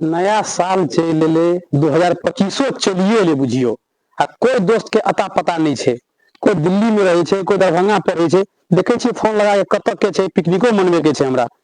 नया साल चलि एलै दू हजार पच्चीसो चलिए एलै बुझियौ आ कोइ दोस्तके अता पता नहि छै कोइ दिल्लीमे रहै छै कोइ दरभंगा पढ़ै छै देखै छियै फोन लगा कऽ कतऽ के छै पिकनिको मनबैके छै हमरा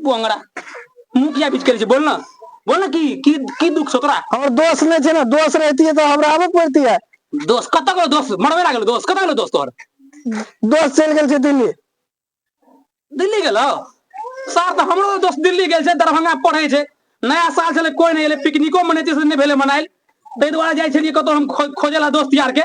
बोंगरा मुखिया बीच करै छै बोल न बोल न की की की दुख छौ तोरा हमर दोस्त नहि छै ने दोस्त रहतियै तऽ हमरा आबऽ पड़तियै दोस्त कतऽ गेलो दोस्त मरबे ना गेलो दोस्त कतऽ गेलो दोस्त तोहर दोस्त चलि गेल छै दिल्ली दिल्ली गेलो सर तऽ हमरो दोस्त दिल्ली गेल छै दरभंगा पढ़ै छै नया साल छलै कोई नहि एलै पिकनिको मनेतै से नहि भेलै मनायल ताहि दुआरे जाइ छलियै कतौ हम खो- खोजै लए दोस्त यारके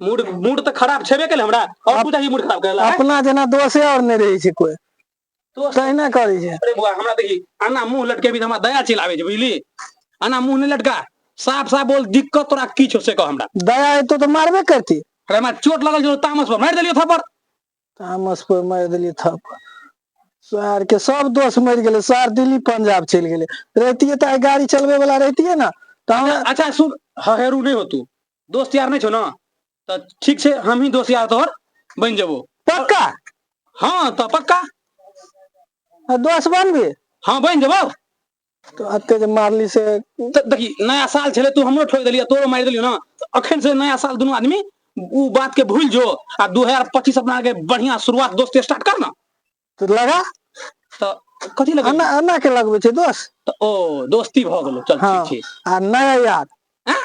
मूड मूड तऽ खराब छेबे केलै हमरा और अप- तू जाही मूड खराब करला अपना जेना दोषे और नहि रहै छै कोई दोस्त तहिना करै छै अरे बुआ हमरा देखी आना मुंह लटकेबी तऽ हमरा दया चलि आबै छै बुझली आना मुंह नहि लटका साफ साफ बोल दिक्कत तोरा की छौ से कह हमरा दया हेतौ तऽ मारबे करती अरे हमरा चोट लगल छौ तामस पर मारि देलियौ थप्पड़ तामस पर मारि देलियै थप सोहार के सब दोस्त मर गेले सोहार दिल्ली पंजाब चल गेले रहती तो गाड़ी चलबे वाला रहती है ना तो हम अच्छा सुन हेरू नहीं हो तू दोस्त यार नहीं छो ना तो ठीक से हम ही दोस्त यार तोहर बन जबो पक्का हाँ तो पक्का दोस्त बन भी हाँ बन जबो तो अते जे मारली से त देखी नया साल छले तू हमरो ठोक देलियै तोरो मारि देलियो ना त अखन से नया साल दुनू आदमी उ बात के भूल जो आ 2025 अपना के बढ़िया शुरुआत दोस्त स्टार्ट कर ना तो लगा त कथी लगे अन्ना अन्ना के लगबे छै दोस्त त ओ दोस्ती भ गेलो चल हाँ ठीक छै आ नया यार हैं?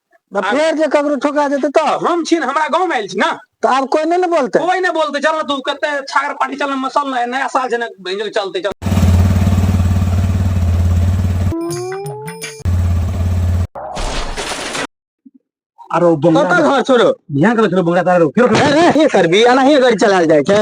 आ आब फेर जे ककरो ठोका जेतै तऽ हम छी ने हमरा गाँवमे आयल छी ने तऽ आब कोइ नहि ने बोलतै कोइ नहि बोलतै चल ने तू कते छागर पार्टी चल ने मसल ने नया साल छै ने भेंजो चलतै चल आरो बंगला कतऽ घर छोरो ध्यान करै छौ बंगला तारो फेर ए, ए, की करबी एनाही गाड़ी चलायल जाइ छै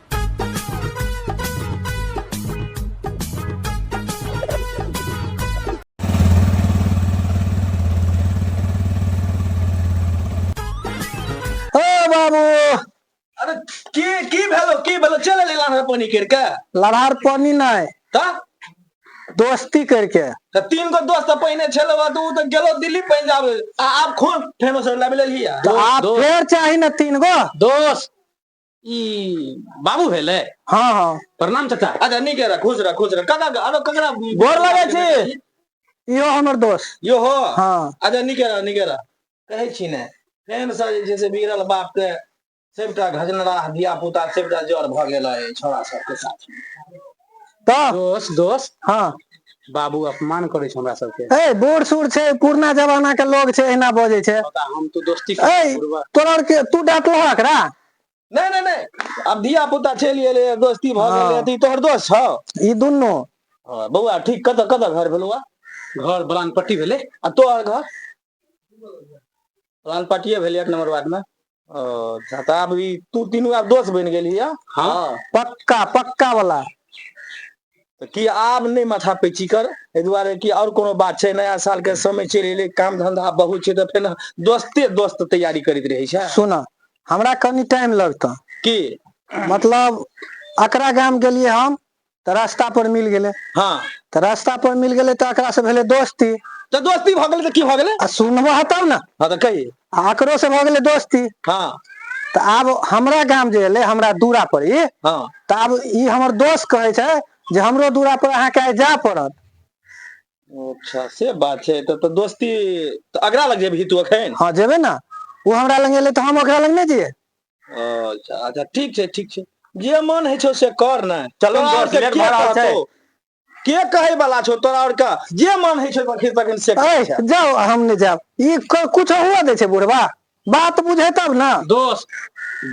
ओ बाबू अरे की की भेलो की भेलो चले ले लाना पानी कर के लड़ार पानी नहीं त दोस्ती करके त तीन गो दोस्त त पहिने छलो बा तू त गेलो दिल्ली पंजाब आ आप खून फेनो से लाबे ले लिया तो आप दोस्त। फिर चाही ना तीन गो दोस्त ई बाबू भेलै हाँ हाँ प्रणाम चाचा अच्छा नीक रह खुश रह खुश रह ककरा आरो ककरा गोर लगै छी इहो हमर दोस्त यो हो हाँ अच्छा नीक रह नीक रह कहै छी ने फेन से जे छै से बिगड़ल बाप के सबटा घजनराह धिया पुता सबटा जड़ भऽ गेल है छोरा सबके साथ तऽ दोस दोस हँ बाबू अपमान करै छै हमरा सबके ए बूढ़ सूढ़ छै पुरना जमाना के लोग छै एहिना बजै छै पता हम तो दोस्ती ए करै छी, बुढ़वा। तोरा आर के तू डांटलह एकरा नहि नहि नहि आब धिया पुता चलि गेलै दोस्ती भऽ हँ। गेलै तऽ ई तोहर दोस्त छौ ई दुनू हँ, बौआ ठीक कतऽ कतऽ घर भेलौआ घर बलान पट्टी भेलै आ तोहर घर प्लान पार्टिए भेलै एक नम्बर वार्डमे ओ अच्छा तऽ आब ई तू तीनू आब दोस्त बनि गेलही हँ हँ पक्का पक्का वाला तऽ की आब नहि माथा पैची कर एहि दुआरे कि आओर कोनो बात छै नया सालके समय चलि एलै काम धंधा आब बहुत छै तऽ फेर दोस्ते दोस्त तैयारी करैत रहै छै सुन हमरा कनि टाइम लगतऽ की मतलब अकरा गाम गेलियै हम तऽ रास्ता पर मिल गेलै हँ तऽ रास्ता पर मिल गेलै तऽ एकरा से भेलै दोस्ती तऽ दोस्ती भऽ गेलै तऽ की भऽ गेलै आ सुनबह तब ने हँ तऽ कही आ एकरो से भऽ गेलै दोस्ती हँ तऽ आब हमरा गाम जे एलै हमरा दूरा पर ई हँ तऽ आब ई हमर दोस्त कहै छै जे हमरो दूरा पर अहाँके आइ जाय पड़त अच्छा से बात छै तऽ तऽ दोस्ती तऽ अगरा लग जेबही तू एखन हँ जेबै ने ओ हमरा लग एलै तऽ हम ओकरा लग नहि जइयै अच्छा अच्छा ठीक छै ठीक छै जे मन होइ छौ से कर ने चलू तोरा आओर दोस्त, के लेट के भऽ रहल छै। कहतौ? के कहै वाला छौ तोरा आओर के जे मन होइ छौ तखन तखन से कर। ऐ जाउ हम नहि जायब ई क- कुछ हुआ दै छै बुढ़वा बात बुझे तब ने दोस्त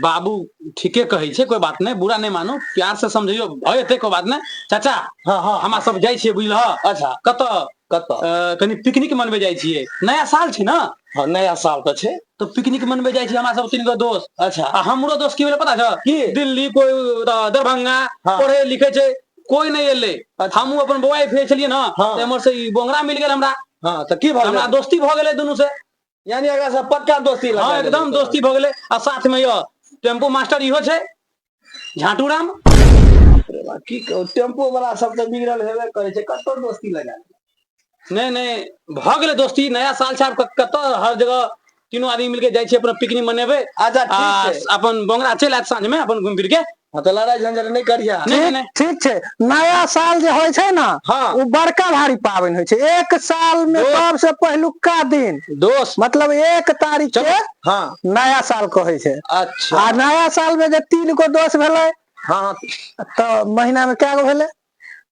बाबू ठीके कहै छै कोई बात नहि बुरा नहि मानू प्यार से समझैयो भय एतै कोई बात नहि चाचा हँ हँ हमरा सब जाइ छियै बुझलह अच्छा कतऽ कतऽ अ, कनि पिकनिक मनबे जाइ छियै नया साल छै ने हँ नया साल तऽ छै तऽ पिकनिक मनबे जाइ छियै हमरा सब तीन गो दोस्त अच्छा आ हमरो दोस्त की भेलै पता छौ की? दिल्ली कोई अ, दरभंगा हाँ। पढ़े लिखे छै कोई नहीं एले अच्छा। हमहू अपन बौआ भेज छलियै ना हाँ। ते हमर से ई बोंगरा मिल गेल हमरा हाँ तऽ की भऽ हमरा गेलै दोस्ती भऽ गेलै दुनू से यानी एकरा से पक्का दोस्ती लगा हाँ एकदम दोस्ती भ गेले आ साथ में यह टेम्पो मास्टर इहो छै झाटू राम की कहू टेम्पो वाला सब तो बिगड़ल हेबे करे छै कतो दोस्ती लगा नहीं नहीं भ गेले दोस्ती नया साल छै कतो हर जगह तीनों आदमी मिलके जाए अपना पिकनिक मनेबे अच्छा ठीक अपन बोंगरा चल आत साँझ में अपन घूम फिर के हाँ तो लड़ाई झंझट नहीं करिया नहीं, ठीक नहीं। ठीक छै नया साल जे होइ छै ने हाँ। ओ बड़का भारी पाबनि होइ छै एक साल मे दो- सबसे पहिलुका दिन दोस्त मतलब एक तारीख के चलो हाँ नया साल कहै छै अच्छा आ नया साल में जे तीन गो दोस्त भेलै हाँ हाँ तऽ महीना में कए गो भेलै